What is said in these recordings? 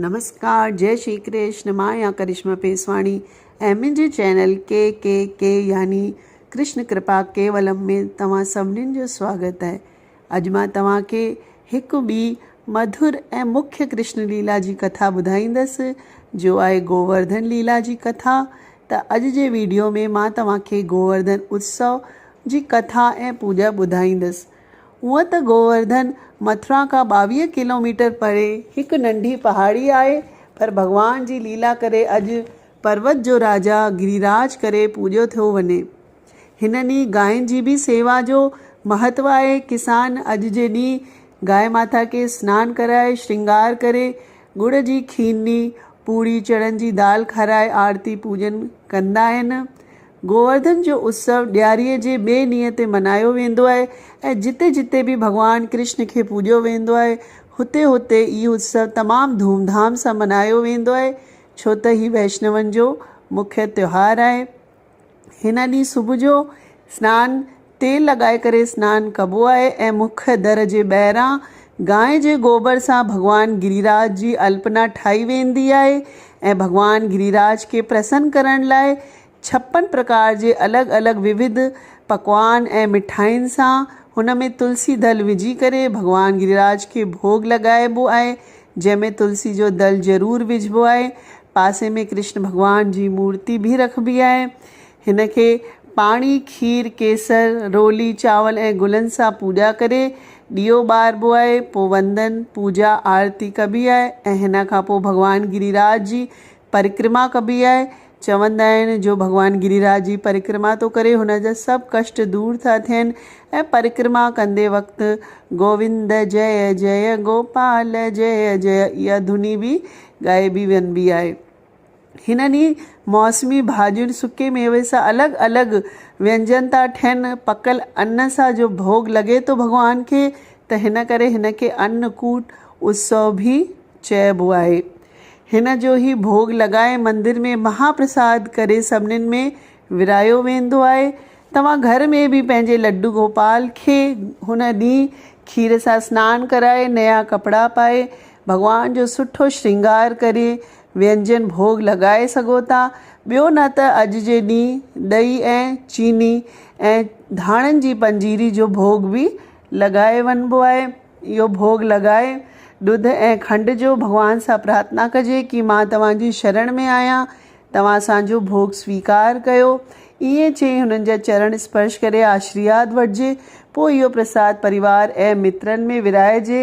نمسڪار جئي شري ڪرشن مان آهيان ڪرشما پيسواڻي ۽ منهنجي چينل ڪي ڪي ڪي يعني ڪرشن ڪرپا ڪيولم ۾ توهان سڀني جو سواگت آهي اڄ مان توهان کي هڪ ٻي مڌر ۽ مکيه ڪرشن ليلا جي ڪٿا ٻڌائيندس جو آهي گوورڌن ليلا جي ڪٿا ته اڄ جي ويڊيو ۾ مان توهان کي گوورڌن اتسو جي ڪٿا ۽ پوڄا ٻڌائيندس هونء ته گوورڌن مٿرا کان ٻاويهه ڪلوميٽر پري هڪ ننڍي پهاڙي آهي، پر ڀڳوان جي ليلا ڪري اڄ پروت جو راجا گريراج ڪري پوڄيو ٿيو وڃي. هن ڏينهن گاين جي به سيوا جو مهتو آهي. ڪسان اڄ جي ڏينهن گاء ماتا کي سنان ڪرائي، شرنگار ڪري، ڳڙ جي کيرني، پوڙهي، چڻن جي دال کارائي آرتي پوڄن ڪندا آهن. گوورڌن جو اتسو ڏياريء جي ٻئي ڏينهن تي ملهايو ويندو آهي ۽ جتي جتي به ڀڳوان ڪرشن کي پوڄيو ويندو آهي، هتي هتي هي اتسو تمام ڌوم ڌام سان ملهايو ويندو آهي، ڇو ته هي وئشنون جو مکيه تهوار آهي. هن ڏينهن صبح جو سنان تيل لڳائي ڪري سنان ڪبو آهي ۽ مک در جي ٻاهران گانء جي گوبر سان ڀڳوان گريراج جي الپنا ٺاهي ويندي آهي ۽ ڀڳوان گريراج کي پرسن ڪرڻ لاء ڇپن پرڪار جي الڳ الڳ ووڌ پڪوان ۽ مٺاين سان هن ۾ تلسي دل وجهي ڪري ڀڳوان گريراج کي ڀوڳ لڳائبو آهي جنهن ۾ تلسي جو دل ضرور وجهبو آهي پاسي ۾ ڪرشن ڀڳوان جي مورتي به رکبي آهي هن کي پاڻي، کير، ڪيسر، رولي، چانور ۽ گلن سان پوڄا ڪري ڏيئو ٻاربو آهي. پوء وندن، پوڄا، آرتي ڪبي آهي ۽ هن کان پوء ڀڳوان گري راج جي پرڪرما ڪبي آهي. چوندا آهن جو ڀڳوان گري راج جي پرڪرما ٿو ڪري هن جا سڀ ڪشٽ دور ٿا ٿين ۽ پرڪرما ڪندي وقت گووند جئه جئه گوپال جئه جئه اها ڌني به ڳائبي وڃبي آهي. هنن ئي موسمي ڀاڄين، سڪي ميوي سان الڳ الڳ وينجن ٿا ٺهن. پڪل ان سان جو ڀوڳ لڳي ٿو ڀڳوان کي ته هن ڪري هن کي ان ڪوٽ اتسو به چئبو آهي. هن جو هي ڀوڳ لڳائي مندر ۾ مها پرساد ڪري سڀنين ۾ ورهايو ويندو آهي. توهان گهر ۾ به پنهنجي لڊو گوپال کي هن ڏينهن کير سان سنان ڪرائي نيا ڪپڙا پائي ڀڳوان جو سٺو شرنگار ڪري وينجن ڀوڳ لڳائي سگهو ٿا، ٻيو نه ته اڄ جي ڏينهن ڏهي ۽ چيني ۽ ڌاڻن جي پنجيري جو ڀوڳ به لڳائي وڃبو آهي. اهو ڀوڳ لڳائي ڏڌ ۽ کنڊ جو ڀڳوان سان پرارٿنا ڪجي ڪي مان توهان جي شرڻ ۾ آهيان، توهان اسان جو ڀوڳ سويڪار ڪيو. ائين چئي هنن جا چرڻ اسپرش ڪري آشرياد وٺجي، پوء اهو پرساد پريوار ۽ مترن ۾ ورهائجي،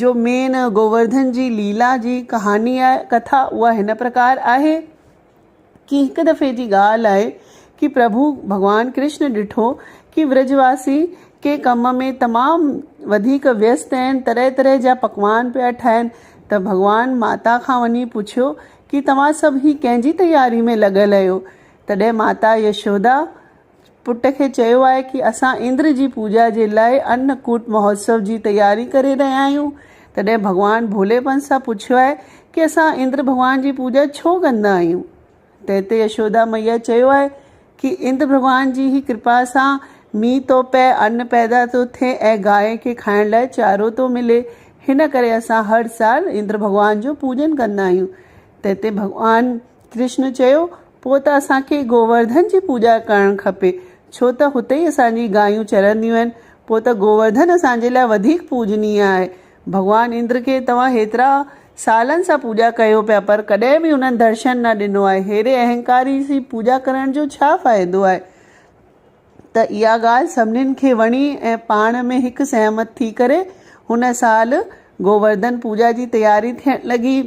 جو مين گوورڌن جي ليلا جي ڪهاڻي آهي ڪٿا اها هن پرڪار آهي ڪي هڪ دفعي جي ڳالهه آهي ڪي پرڀو ڀڳوان ڪرشن ڏٺو ڪي ورج واسي ڪنهن ڪم ۾ تمام وڌيڪ ويست اهن طرح طرح جا پڪوان پيا ٺاهن ته ڀڳوان ماتا کان وڃي پڇيو ڪي توهان سڀ هي ڪنهن جي تياري ۾ لڳل اهيو تڏهن ماتا يشودا پٽ کي چيو آهي ڪي اسان اندر جي پوڄا جي لاء ان ڪوٽ مهوتسو جي تياري ڪري رهيا آهيون تڏهن ڀڳوان ڀولي پن سان پڇيو آهي ڪي اسان اندر ڀڳوان جي پوڄا ڇو ڪندا آهيون تنهن تي يشودا مئيا چيو آهي ڪي اندر ڀڳوان جي هي ڪرپا سان مينهن ٿو پئي ان پيدا ٿو ٿئي ۽ گاهين کي کائڻ لاء چارو ٿو ملي هن ڪري اسان هر سال اندر ڀڳوان جو پوڄن ڪندا آهيون تنهن تي ڀڳوان ڪرشن چيو پوء ته اسان کي گوورڌن جي پوڄا ڪرڻ کپي، ڇو ته هتي ئي اسان جي گايون چرنديون آهن. پوء ته گوورڌن اسان جي لاء وڌيڪ پوڄنيء آهي. ڀڳوان اندر کي توهان هيترا سالن سان پوڄا ڪيو پيا پر ڪڏهن به هنن درشن نه ڏنو آهي. ههڙي اهنڪاري جي پوڄا ڪرڻ جو ڇا فائدو آهي؟ ته اها ڳالهه سڀنين کي وڻي ۽ پاڻ ۾ هڪ سهمت ٿي ڪري هن سال گوورڌن پوڄا جي تياري ٿيڻ لڳي.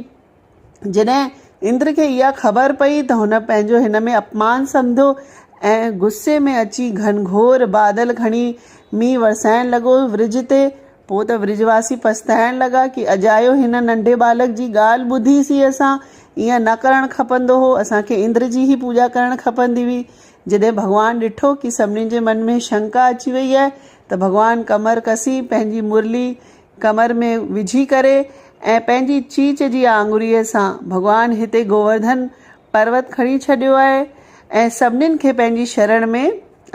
جڏهن اندر کي اها خبر پئي ته هن پنهنجو هن ۾ اپمان سمڌو ۽ غصي ۾ اچي گهنگهور بادل کڻي مينهن ورسائڻ لڳو ورج تي. پوء ته ورج واسي پڇتائڻ لڳا ڪي اجايو هن ننڍي ٻالڪ جي ڳالهه ٻڌي سي اسان ائين نه ڪرڻ کپندو هو اسان کي اندر جي ئي پوڄا ڪرڻ کپندي هئي. جڏهن ڀڳوان ڏٺو ڪي سڀني جي من ۾ شنڪا اچي وئي آهي ته ڀڳوان ڪمر ڪسي پنهنجي مرلي ڪمر ۾ وجهي ڪري ۽ پنهنجي چيچ جي آڱريء سان ڀڳوان هتي گوورڌن پروت کڻي ڇڏيو آهي ۽ سڀنين کي پنهنجي شرڻ ۾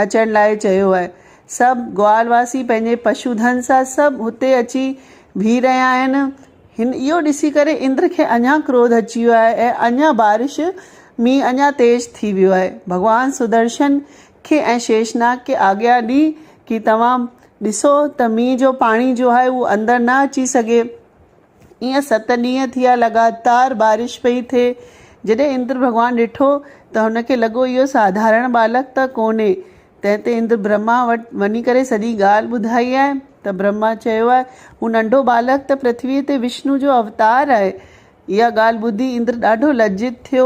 اچڻ لاء چيو آهي. سڀ گوال واسي پنهنجي پشو ڌن سان سڀ هتي اچي بيهي رهيا آهن. هن اهو ڏسي ڪري اندر کي اڃا ڪروڌ اچي ويو آهي ۽ اڃا بارش، مينهن، اڃا تيز ٿي ويو آهي. ڀڳوان سدرشن کي ۽ شيشناگ کي آگيا ڏي ڪي توهان ڏسو ته مينهن جو پاڻي جو آهي اهو اندر نه اچي سگهي. ايئن ست ڏينهن ٿيا لڳاتار بارش پئي ٿئي. جڏهن اندر ڀڳوان ڏٺو ته هن کي لڳو اهو ساڌارڻ ٻالڪ ته ڪونهي. تنهن تي اندر برهما وٽ وڃي ڪري سڄي ڳالهه ٻڌائي آهي ته برهما چيو آهي هو ننڍو ٻالڪ ته پرٿويء تي وشنو جو اوتار آهي. اها ڳالهه ٻڌي اندر ڏاڍو لجت ٿيو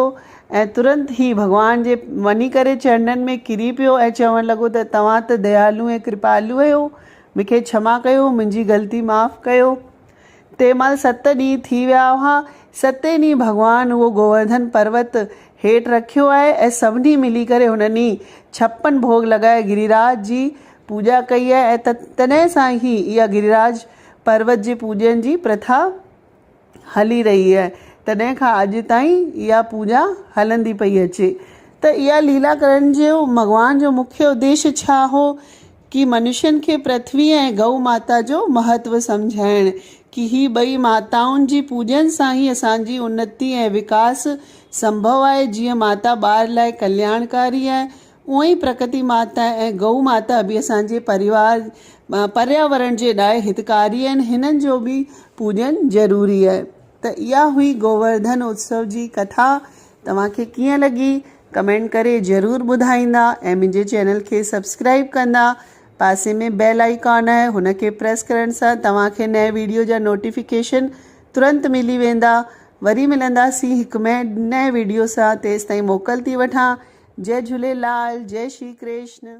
۽ ترنت ئي ڀڳوان جي وڃي ڪري چرنن ۾ ڪري پيو ۽ چوڻ لڳو ته توهان ته ديالو ۽ ڪرپالو آهيو، مون کي ڇما ڪيو، منهنجي غلطي معاف ڪيو. تنهن مهل ست ڏينهن ٿي ويا هئا. ستين ڏينهن ڀڳوان اهو گوورڌن پروت هيٺ رکيو آهي ۽ سڀني ملي ڪري هن ڏينهن ڇپن ڀوڳ لڳائي گريراج جي پوڄا ڪئي آهي ۽ تڏهن سان ئي اها گريراج پروت جي پوڄن جي پرٿا هلي رهي آهي تڏهن کان اڄ تائين اها پوڄا هلندي پئي اچي ته اها ليلا ڪرڻ جو ڀڳوان جو مکيه اديش ڇا هو ڪي منشين کي پرٿوي ۽ گئو ماتا جو مهتو سمجهائڻ ڪي هي ٻئي ماتائن جي پوڄن سان ئي اسان جي انتي ۽ وڪاس سنڀو آهي جيئن ماتا ٻار لاء ڪلياڻڪاري آهي اونء ئي پرڪتي ماتا ۽ گئو ماتا به اسان جي پريوار پرياورڻ جي لاء هتڪاري آهن هنن جو به پوڄن ضروري آهي ته اها هئي گوورڌن اتسو جي ڪٿا توهان کي ڪيئن لڳي ڪمينٽ ڪري ضرور ٻڌائيندا ۽ منهنجي چينل کي سبسڪرائب ڪندا پاسي ۾ بيل آئيڪان آهي هن کي پريس ڪرڻ سان توهان کي نئين ويڊيو جا نوٽيفڪيشن ترنت ملي ويندا وري ملنداسين هڪ مئي نئين ويڊيو سان تيستائين موڪل ٿي وٺان جئي جهوليلال جئي شري ڪرشن.